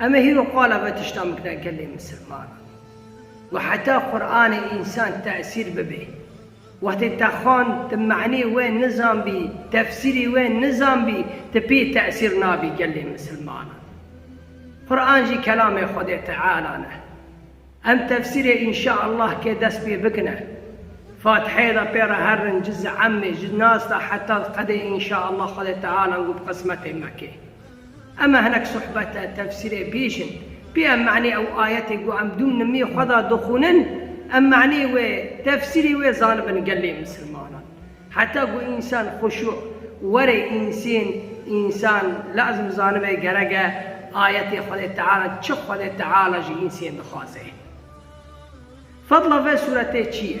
Em ê hîro qala vê tiştan bikne gelê misilman û heta Quranê însan tesîr bibê. Wextê te xwend, ti manê wê nizanbî, tefsîrê wê nizanbî, ti pê tesîr nabî gelê misilmanan. Quran jî kelamê Xwedê Teala ne. Em tefsîrê Înşa Allah kê dest pê bikine. Fatiheyê de pê re herin cizê Emmê, ji Nas de heta Qedê Înşa Allah Xwedê Tealan ku bi qismetê me kê. Eme hinek suhbete, tefsîrê bîjin. Pê em manê ew ayetê ku em dûm nimî xwe da dixwînin, em manê wê, tefsîrê wê zanibin gelê misilmanan. Heta ku însan xuşû were însên însan lazim zanibe gerek e ayetê Xwedê Teala çi Xwedê Teala ji însên dixwaze. Fedla ve sûretê çi ye?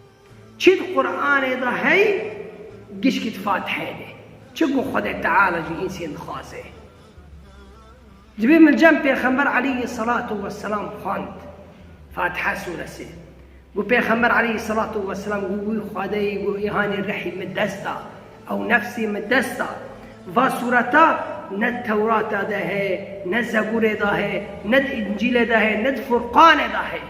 Çi di Quranê de hey, gişkî di Fatiheyê de, çi ku Xwedê Teala ji însên dixwaze. Divê min cem Pêxember Eleyî Selatû Weselam xwend, Fatiha Sûresi. Ku Pêxember Eleyî Selatû Weselam got wî Xwedeyî got îhanê rihî min dest da, ew nefsê min dest da. Va sûreta ne di Tewrata de heye, ne Zeburê de heye, ne di Încîlê de heye, ne di Furqanê de heye.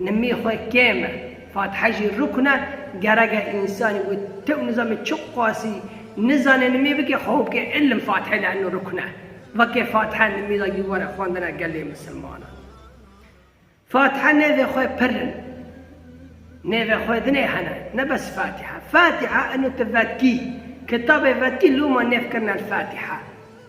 Nimî xwe kêm e. Fatihe jî rukn e. Ger eger însanî wê tew nizame çi qasî nizane nimî bike xwe bike îlim Fatihe le'nno rukn e. Veke Fatihe nimî da gî were xwendina gelê misilmanan. Fatihe nêvê xwe pir in. Nêvê xwe dinê hene. Ne bes Fatihe. Fatihe eno ti vetkî. Kitabê vetkî loma nêv kirine li Fatihe.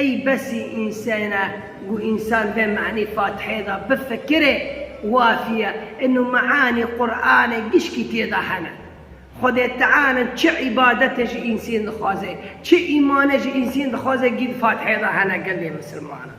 Ey besî însene ku însan vê manî Fatihê de bifikire, wafiye, inu maanî Quranê gişkî têda hene. Xwedê Teala çi îbadetê ji însên dixwaze, çi îmane ji însên dixwaze gîd Fatihê de hene gelê misilmanan.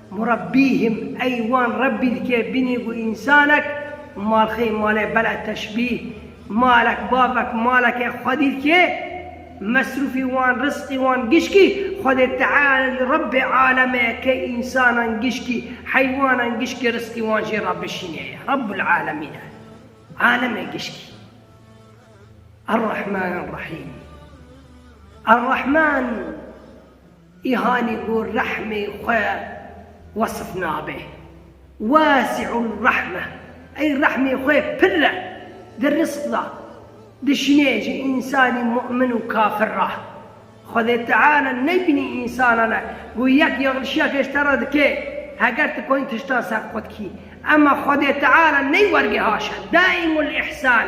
Murabbîhim ey wan Rebbî dike bînî ku însanek malxê malê bela teşbîh, malek bavek maleke xwedî dike, mesrûfî wan rizqî wan gişkî Xwedê Teala jî Rebbê Aleme ye ke însanan gişkî, heywanan gişkî rizqî wan jê re bişîne ye. Rebbul Alemîn e Alemê gişkî. Er-Rahman Er-Rahîm Er-Rahman. Îhanî ku rehmê xwe wesf nabe. Wasi'ul rahme, ey rehmê xwe pirr e, di rizq de dişîne ji însanî mu'min û kafir re. Xwedê Teala nebînî însanan e ku yek yanlişiyek ji te re dike, heger tu konî tiştan serqot kî. Ema Xwedê Teala ney wergê haşa, daîmul ihsan.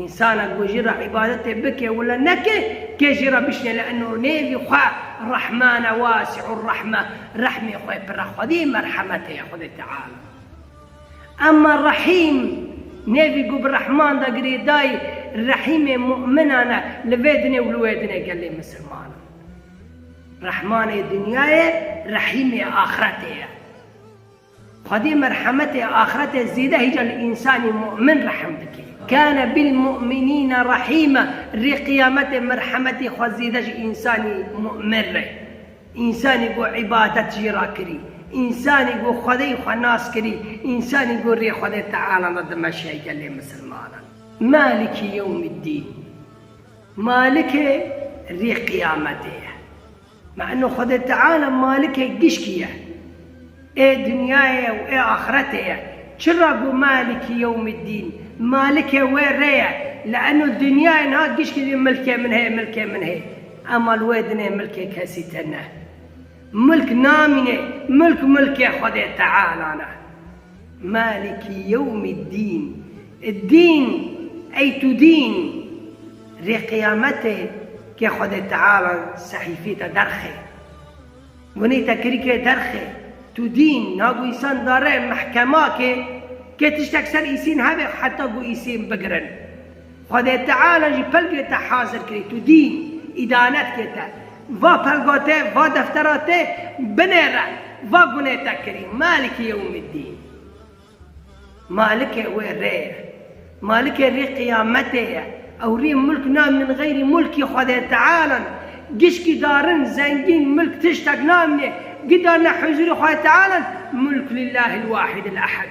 Însanek ku jî re îbadetê bike wila neke, kê jî re bişne li eno nêvî xwe, Rehman e Wasi'ur-Rehme, Rehmê xwe yê pira xwedî merhemetê ye Xwedê Teala. Ema Rehîm, nêvî ku bi Rehman de girêdayî, Rehîmê mu'minan e, li vê dinê û li wê dinê gelê misilmanan. Rehmanê dinyayê, Rehîmê axiretê ye. Xwedê merhemetê axirete zêde hîca li însanê mu'min rehm dike. Kâne bil mu'minîne rahîma, rê qiyametê merhemetê xwe zêde ji însanê mu'min re. Însanê ku îbadet jî re kirî, însanê ku Xwedeyê xwe nas kirî, însanê ku rê Xwedê Teala da dimeşe gelê misilmanan. Maliki yewmîddîn, Malikê rê qiyametê ye. Me eno Xwedê Teala malikê gişkî ye, ê dinyayê ye û ê axretê ye. Çira got Maliki Yewmiddîn, Malikê wê rê ye, li eno dinyayê niha gişkî dî milkê min heye, milkê min heye. Ema li wê dinê milkê kesî tê ne. Milk namînê, milk milkê Xwedê Teala ne. Malikî yewmî dîn, Dîn ey tu dîn rê qiyamete ke Xwedê Teala sehîfê te derxe. Gunê te kirî ke derxe. Tu dîn na ku îsan dare mehkema ke ke tiştek ser îsîn hebe heta ku îsîn bigirin. Xwedê Teala jî pelgê te hazir kirî, tu dî îdanet kê te, va pelga te, va deftera te binê re, va gunê te kirî, Maliki Yewmiddîn. Malikê wê rê ye. Malikê rê qiyametê ye. Ew rê mulk namînin xeyrî mulkî Xwedê Teala ne. Gişkî darin, zengîn, mulk tiştek namînê, gidarine huzûrê Xwedê Teala ne, Mulk lillâhil wahidil ehad.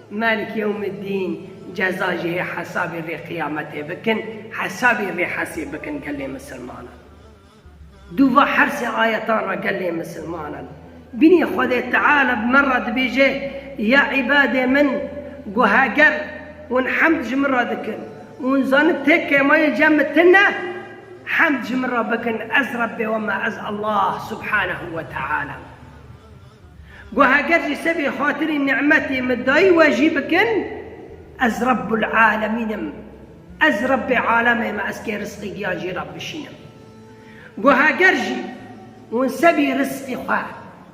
Melk Yewmiddîn ceza jî hê hesabê vê qiyametê bikin, hesabê vê hersê bikin gelê misilmanan. Du va hersê ayetan ra gelê misilmanan bînî Xwedê Teala bi me ra dibêje, Ya îbadê min, gu heger hûn hemd ji min ra dikin û hûn zanin tê kêmayê cem min tune, hemd ji min ra bikin, ez Rebbê we me, ez Allah Subhanehu we Teala im. Ku heger jî sebê xatirî nimetê min dayî we jî bikin, ez Rebbul Alemîn im, ez Rebbê Alemê me, ez kê risqê giyan jî re bişînim. Ku heger jî hûn sebî risqê xwe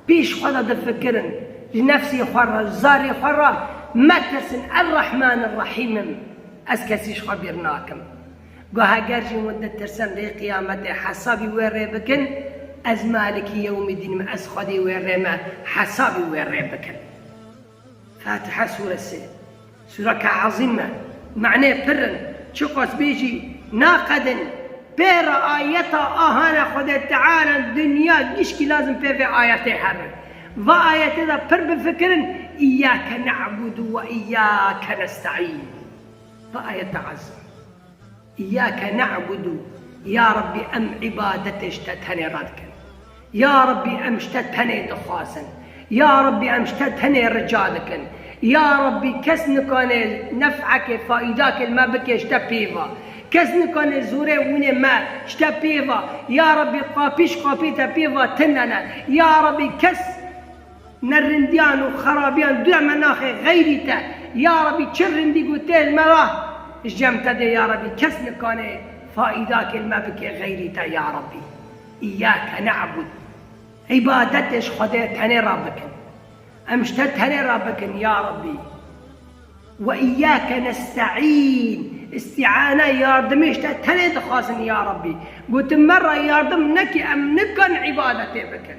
pêş xwe de difikirin, ji nefsê xwe re, ji zarê xwe re metirsin, Er-Rehman Er-Rehîm im, ez kesî ji xwe bêr nakim. Goh eger jî hûn ditirsin rê qiyametê hesabî wê rê bikin, ez Maliki Yewmîddîn im, ez Xwedê wê rê me hesabî wê rê bikin. Fatiha sûre sê sûreke ezîm e, manê pirr in, çiqas bê jî naqedin. Pêra ayeta ahane Xwedê Teala dinya gişkî lazim pê vê ayetê hebin. Va ayetê de pirr bifikirin, Îyyâke ne'budu ve îyyâke nesta'în. Bi ayeta Ezza, Îyâke ne'budu, Ya Rabbî em îbadetê ji te tenê radikin. Ya Rabbî em ji te tenê dixwazin. Ya Rabbî em ji te tenê rica dikin. Ya Rabbî kes nikane nef'ekê, faîdakê li me bike ji te pêva. Kes nikane zorê wînê me ji te pêva. Ya Rabbî qapî ji qapî te pêva tune ne. Ya Rabbî kes. Ne rindiyan û xerabiyan duya me naxê xeyrî te. Ya Rebî çi rindî ku tê li me ra ji cem te dê ya Rebî kes nikanê faîdakê li me bike xeyrî te ya Rebî. Îyâke ne'bud Îbadetê ji Xwedê tenê ra bikin. Em ji te tenê ra bikin ya Rebî. Ve îyâke nestaîn Îstîane yardimî ji te tenê dixwazin ya Rebî. Gotin me ra yardim neke em nikan îbadetê bikin.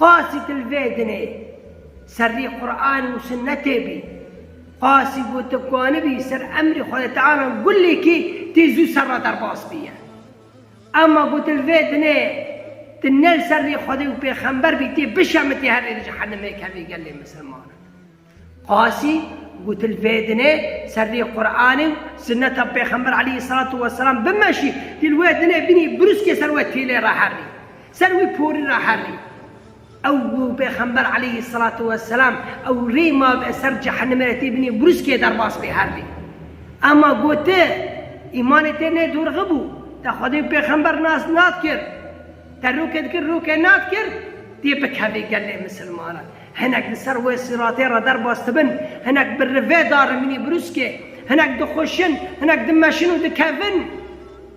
Qasî til vê dinê serrî Quran û Sunnetê bî. Qasî ku tu kanibî ser emrê Xwedê Teala gulekî tê zû ser re derbas bîye. Ema ku til vê dinê tu ne li ser rê Xwedê û pêxember bî tê bişemitî herî li cehenimê kevî gelê misilmanan. Qasî, gotin vêdinê serrî Quranê û sunneta Pêxember aleyhî selatû weselam bimeşî, tî li wê dinê bînî brûskê ser wê tîlê re herrî, ser wî porî re herrî. Ew û Pêxember aleyhî selatû weselam ew rê ma bi ser cehenimê re tî bînî brûskê derbas bê herrî. Ema goti, îmanê tê nê dorxi bû, te Xwedê û Pêxember nas nadkir, te rokê dikir rokê nadkir, tê bikevê gelê misilmanan. Hinek li ser wê sîratê re derbas dibin, hinek bi rivê darin mînîbrûskê, hinek dixweşin, hinek dimeşin û dikevin.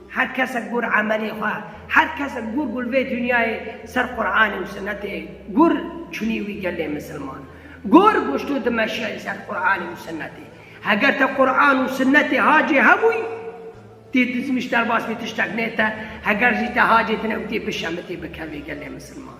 Her kes e gûr emelê xwe, her kes e gûr gul vê dinyayê ser Quranê û Sinetê gûr çûnî wî gelê misilman. Gûr goştû dimeşiyayî ser Quranê û Sinetê. Heger te Quran û Sinetê hacê hebûyî, tê dizmîş derbas vê tiştek nê te, heger jî te hacê tine û tê bişemitî bikevê gelê misilman.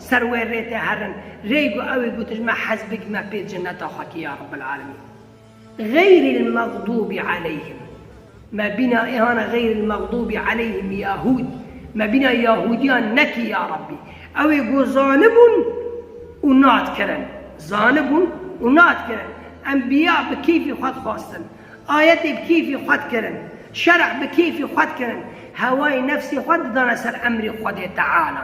Ser wê rê tê herin. Rê got ew ê gotiş me hez bigime pê ceneta xwe kî ya Rebbil Alemîn. Xeyril mexdûbî aleyhim. Me bîna êhana xeyril mexdûbî aleyhim yahûd. Me bîna yahûdiyan nekî ya Rebbî. Ew ê got zanibûn û nadkirin. Zanibûn û nadkirin. Enbîya bi kêfî xwe dixwastin. Ayetê bi kêfî xwe dikirin. Şerh bi kêfî xwe dikirin. Hewayê nefsê xwe didane ser emrê Xwedê Teala.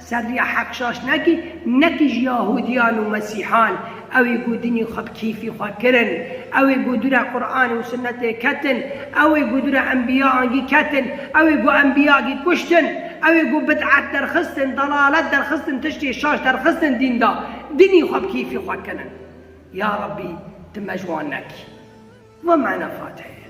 Serriya Hekşaşnakî ne tij Yahudiyan û Mesîhan, ew ê ku dinî xwe bi keyfî xwe kirin, ew ê ku dûre Quranê û Sunnetê ketin, ew ê ku dûre Enbiya angî ketin, ew ê ku Enbiya gî kuştin, ew ê ku bid'et derxistin, delalet derxistin, tiştê şaş derxistin dîn da, dinî xwe bi keyfî xwe kirin. Ya Rabbî, tu me ji wan nekî. Wema ne Fatihê ye.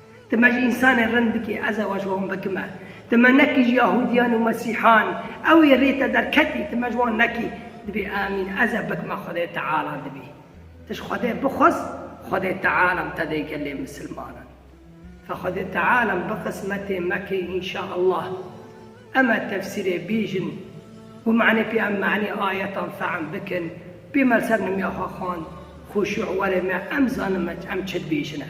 Ti me ji însanên rind bikî, ez eva ji wan bikime. Ti me nekî ji Yahudiyan û Mesîhan, ew ê rê te derketî, ti me ji wan nekî. Dibê emîn ez e bikime Xwedê Teala dibî. Ti ji Xwedê bixwaz, Xwedê Teala te dê gelê misilmanan. Ka Xwedê Teala bi qismetê me kê înşa Allah. Em e tefsîrê bîjin. Bi manê pê em manê ayetan fehm bikin. Pê me li ser nimya xwe xwend, xuşû werê me em zanin em çi dibêjine.